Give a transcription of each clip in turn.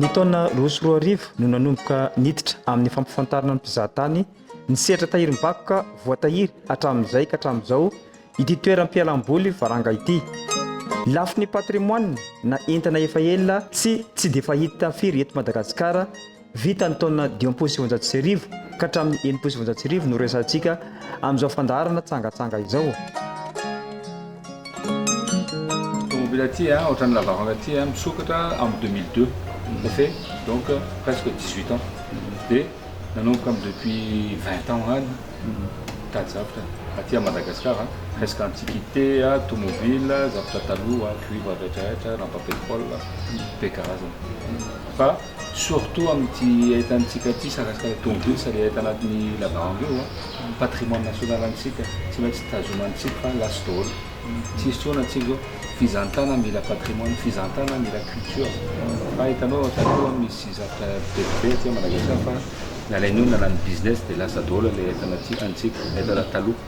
Ny taona roa sy roa arivo no nanomboka niditra amin'ny fampifantarana ny mpizahatany ny sehatra tahirim-bakoka voatahiry hatramin'izay ka hatramin'izao ity toeram-pialam-boly Varanga ity. Lafiny patrimoine na entana efa ela tsy tsy dia fahita firy eto Madagasikara Vita ny taona dimampolo sy sivinjato sy arivo ka hatramin'ny enimpolo sy sivinjato sy arivo no resahantsika amin'izao fandaharana tsangatsanga izao. Tomobil aty a, ohatran'ny lavaranga aty a, misokatra am deux mille deux, ça fait donc presque dix huit ans, de nanomboka am depuis vingt ans any mitady zavatra aty a Madagascar a, presque antiquite a, tomobil a, zavatra taloha, cuivre retraretra, lampa petrol, be karazana fa Surtout amin'ity ahitantsika ity sary asina ilay tomobilina sady hita anatin'ny la bangue io an, patrimoine national antsika tsy maintsy tazomantsika fa last daholo tsy hisy intsony antsika zao, fizantana mila patrimoine, fizantana mila culture fa hitanao an taloha misy zavtra be dia be aty Madagascar fa nalain'io nalany business dia lasa daholo ilay ahitan'aty antsika, ahitan'ny taloha.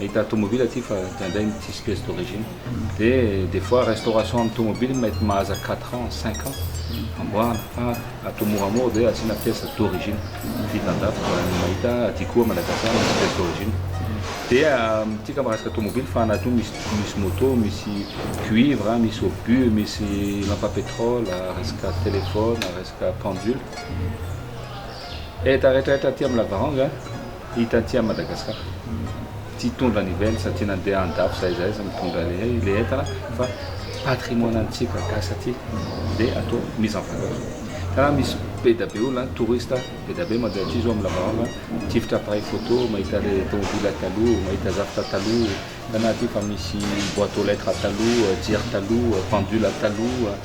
Ahita tomobile aty fa indraindray tsisy pièce d'origine. Dia des fois restauration amin'ny tomobile mety mahaza quatre ans, cinq ans amboarina fa atao moramora dia asiana pièce d'origine. Vita an-dafy fa ny mahita aty koa Madagascar misy pièce d'origine. Dia amintsika amin'ny resaka tomobile fa anaty ao misy misy moto, misy cuivre, misy obus, misy lampe à pétrole, resaka téléphone, resaka pendule. Entana rehetrarehetra aty amin'ny lavaranga. Hita aty à Madagascar tsy hitondra ny vely satria nandeha andafy zay zay aza mitondra lehay le entana fa patrimoine antsika gasy aty de atao mise en valeur tena misy be da be olona touriste be da be mandeha aty zao am lavalava tifitra appareil photo mahita le tomobila taloha mahita zavatra taloha hitanao aty fa misy boite aux lettres taloha jery taloha pendule taloha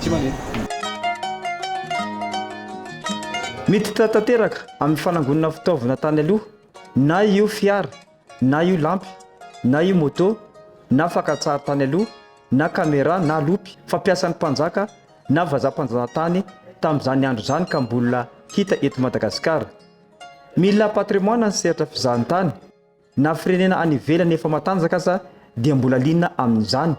tsy maneno. Miditra tanteraka amin'ny fanangonana fitaovana tany aloha, na io fiara, na io lampy, na io moto, na fakantsary tany aloha, na caméra, na lopy, fampiasan'ny mpanjaka na vazaha mpanjanatany tamin'izany andro izany ka mbola hita eto Madagasikara. Mila patrimoine ny sehatra fizahantany. Na firenena any ivelany efa matanjaka aza dia mbola liana amin'izany.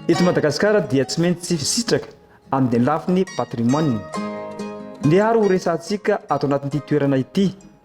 Eto Madagasikara dia tsy maintsy tsy fisitraka amin'ny lafiny patrimoine. Ndeha ary ho resahantsika ato anatin'ity toerana ity.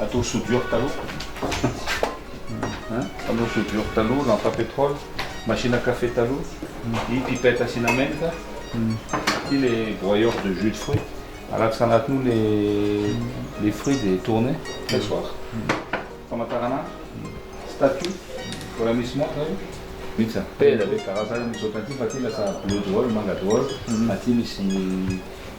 Atao soudure taloha an, fanao soudure taloha, lampe à pétrole, machine à café taloha, iny pipette asiana menaka, ity le broyeur de jus de fruit, alatsaka anatiny ao le le fruit de tourner, pressoir, famataranandro, statue, mbola misy montre io, vita izany, tena be karazany misy ohatran'ity fa ity lasa bleu daholo, manga daholo, aty misy.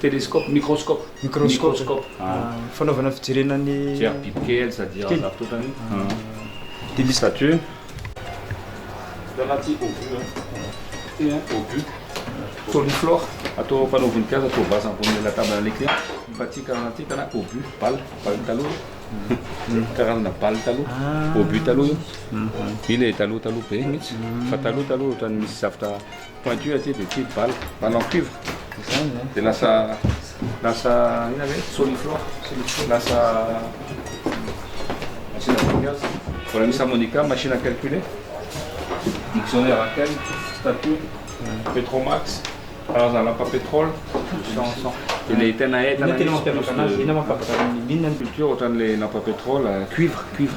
Telescope, microscope, microscope, fanaovana fijerena ny fijery bibikely sady ao an-jafitotany dia misy statue Dans la tia obus hein, ity hein, obus, soliflore, atao mpanao voninkazo atao vase ambonin'ilay lataban'ilay client, fa ity karazana ity tena obus, balle, balle taloha io, karazana balle taloha, obus taloha io, io ilay taloha taloha be mihitsy, fa taloha taloha ohatran'ny misy zavatra. Pointu aty dia ity balle, balle en cuivre, dia lasa lasa inona ve? Soliflor, lasa machine à trucage, mbola misy harmonica, machine à calculer, dictionnaire à kel, statut, petromax, karazana lapa pétrole, dia ilay tena hay tena misy plus de culture ohatran'ilay lapa pétrole cuivre, cuivre.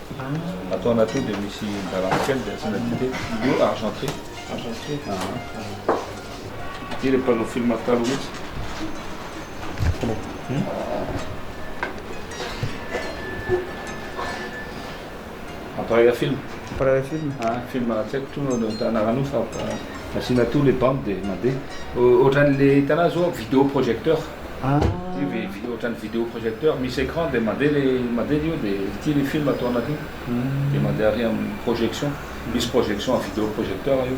Ato anaty io dia misy garany kely dia asiana dite. Io argenté. Argenté. Ity ilay mpanao film taloha mihitsy. Hmm? Appareil film. Appareil film. Ah, film tsy haiko toa no anarana io fa asiana toa ilay bande dia mandeha. Ohatran'ilay hitanao zao vidéo projecteur. Ohatran'ny video projecteur misy écran dia mandeha le mandeha le io dia ity le film ato anatiny dia mandeha ary amin'ny projection misy projection amin'ny video projecteur io.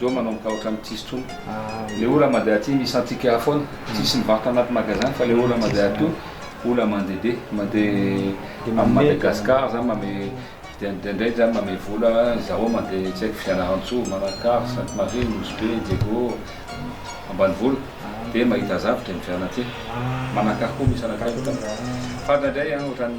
Zo manao ny tahotra ny tsisy tsony le ola made aty misy antsika aho foana tsisy mivarotra anaty magasin fa le ola made aty io ola mande be mande am madagascar zany mame indraindray zany mame vola zaho mande tsy haiko fianarantsoa manakara sainte marie nosy be diego ambanivolo de mahita zavatra miviana aty manakara koa misy anakay fa indraindray an otrany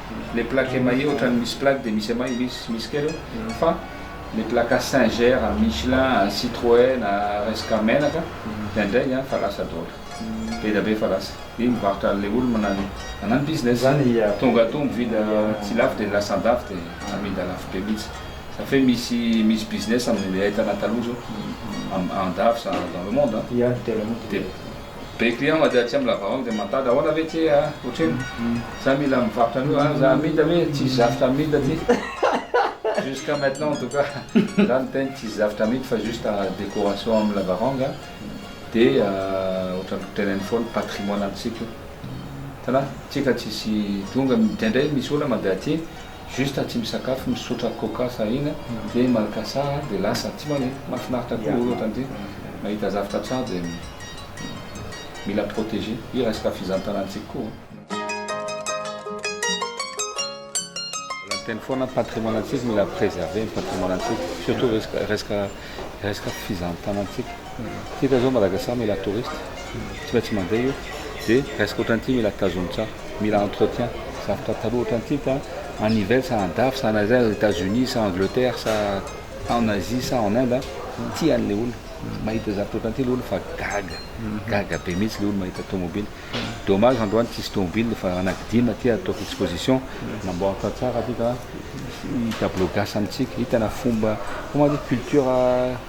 Les plaques émaillées ohatrany misy plaque dia misy émail misy misy kely eo fa les plaques à singer, à michelin, à citroën, à resaka menaka dia indraindray izany fa lasa daholo. Be dia be fa lasa. Io mivarotra an'ilay olona manano business zany. Tonga atoa mividy tsy lafo dia lasa andafy dia amidy alafo be mihitsy. Zany hoe misy misy business amin'ilay entana taloha izao andafy ça dans le monde an. Dia. Be client ma dia tsy am lava hoany dia mandady ahoana ve tse a otrino za mila mivarotra anio a za amida ve tsisy zavtra amida aty jusqu'à maintenant en tout cas za miteny tsisy zavtra amidy fa juste décoration am lavaranga a dia otrany teneniny foana patrimoine antsika io hitanà tsika tsisy tonga dia ndray misy olona mandeha aty Juste tsy misakafo misotra coca sahina dia malaka saha dia lasa tsy maneno. Mahafinaritra koa ny olona ohatran'ity mahita zavtra tsara dia mila proteger. Io resaka fizantanantsika koa. Mbola miteny foana ny patrimoine antsika mila preserver ny patrimoine antsika surtout resaka resaka resaka fizantanantsika. Hita zao Madagascar mila touristes, tsy maintsy mandeha io, de resaka otran'ity mila tazomina tsara, mila entretien, zavatra taloha otran'ity fa en hiver sa en dafy sa en aiza aiza, Etats Unis sa Angleterre sa en Asie sa en Inde an, tia anle olona, mahita zavatra otran'ity le olona fa gaga, gaga be mihitsy le olona mahita tomobile, dommage androany tsisy tomobile fa anakidimy aty ataoko exposition, namboaritra tsara aty ka hisy tableau gasy amintsika, hitana fomba, comment dire, culture.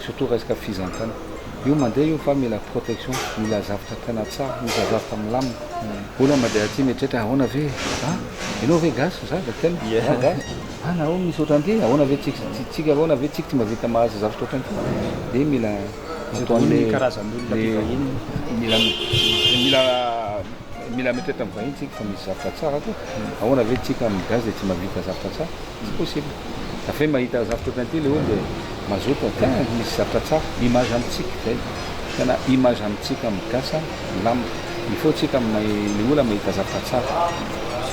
Surtout resaka fizantana io mandeha io fa mila protection mila zavtra tena tsara mila zavtra milamina olona mandeha aty mieritreritra ahoana ve a enao ve gasy za de tena za gasy a na misy ohatran'ity ahoana ve tsika tsika ahoana ve tsika tsy mba vita mahazo zavtra ohatran'ity de mila ataon'ny karazan'olona aty vahiny mila mila mila mieritreritra amin'ny vahiny tsika fa misy zavtra tsara koa ahoana ve tsika amin'ny gasy de tsy mba vita zavtra tsara Tsy possible. Avy eo mahita zavatra ohatran ity le olona dia mazoto an, tena misy zavatra tsara. Image amintsika izay. Tena image amintsika amin'ny gasy milamina. Il faut tsika amin'ny olona mahita zavatra tsara.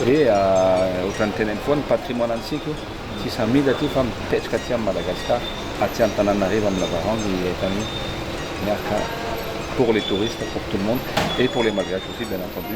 Dia ohatran'ny teneniko foana, patrimoine antsika io. Tsy samida aty fa mipetraka aty amin'i Madagascar, aty Antananarivo amin'ny Lavarangy i Etani. Miarka pour les touristes, pour tout le monde et pour les malgaches aussi bien entendu.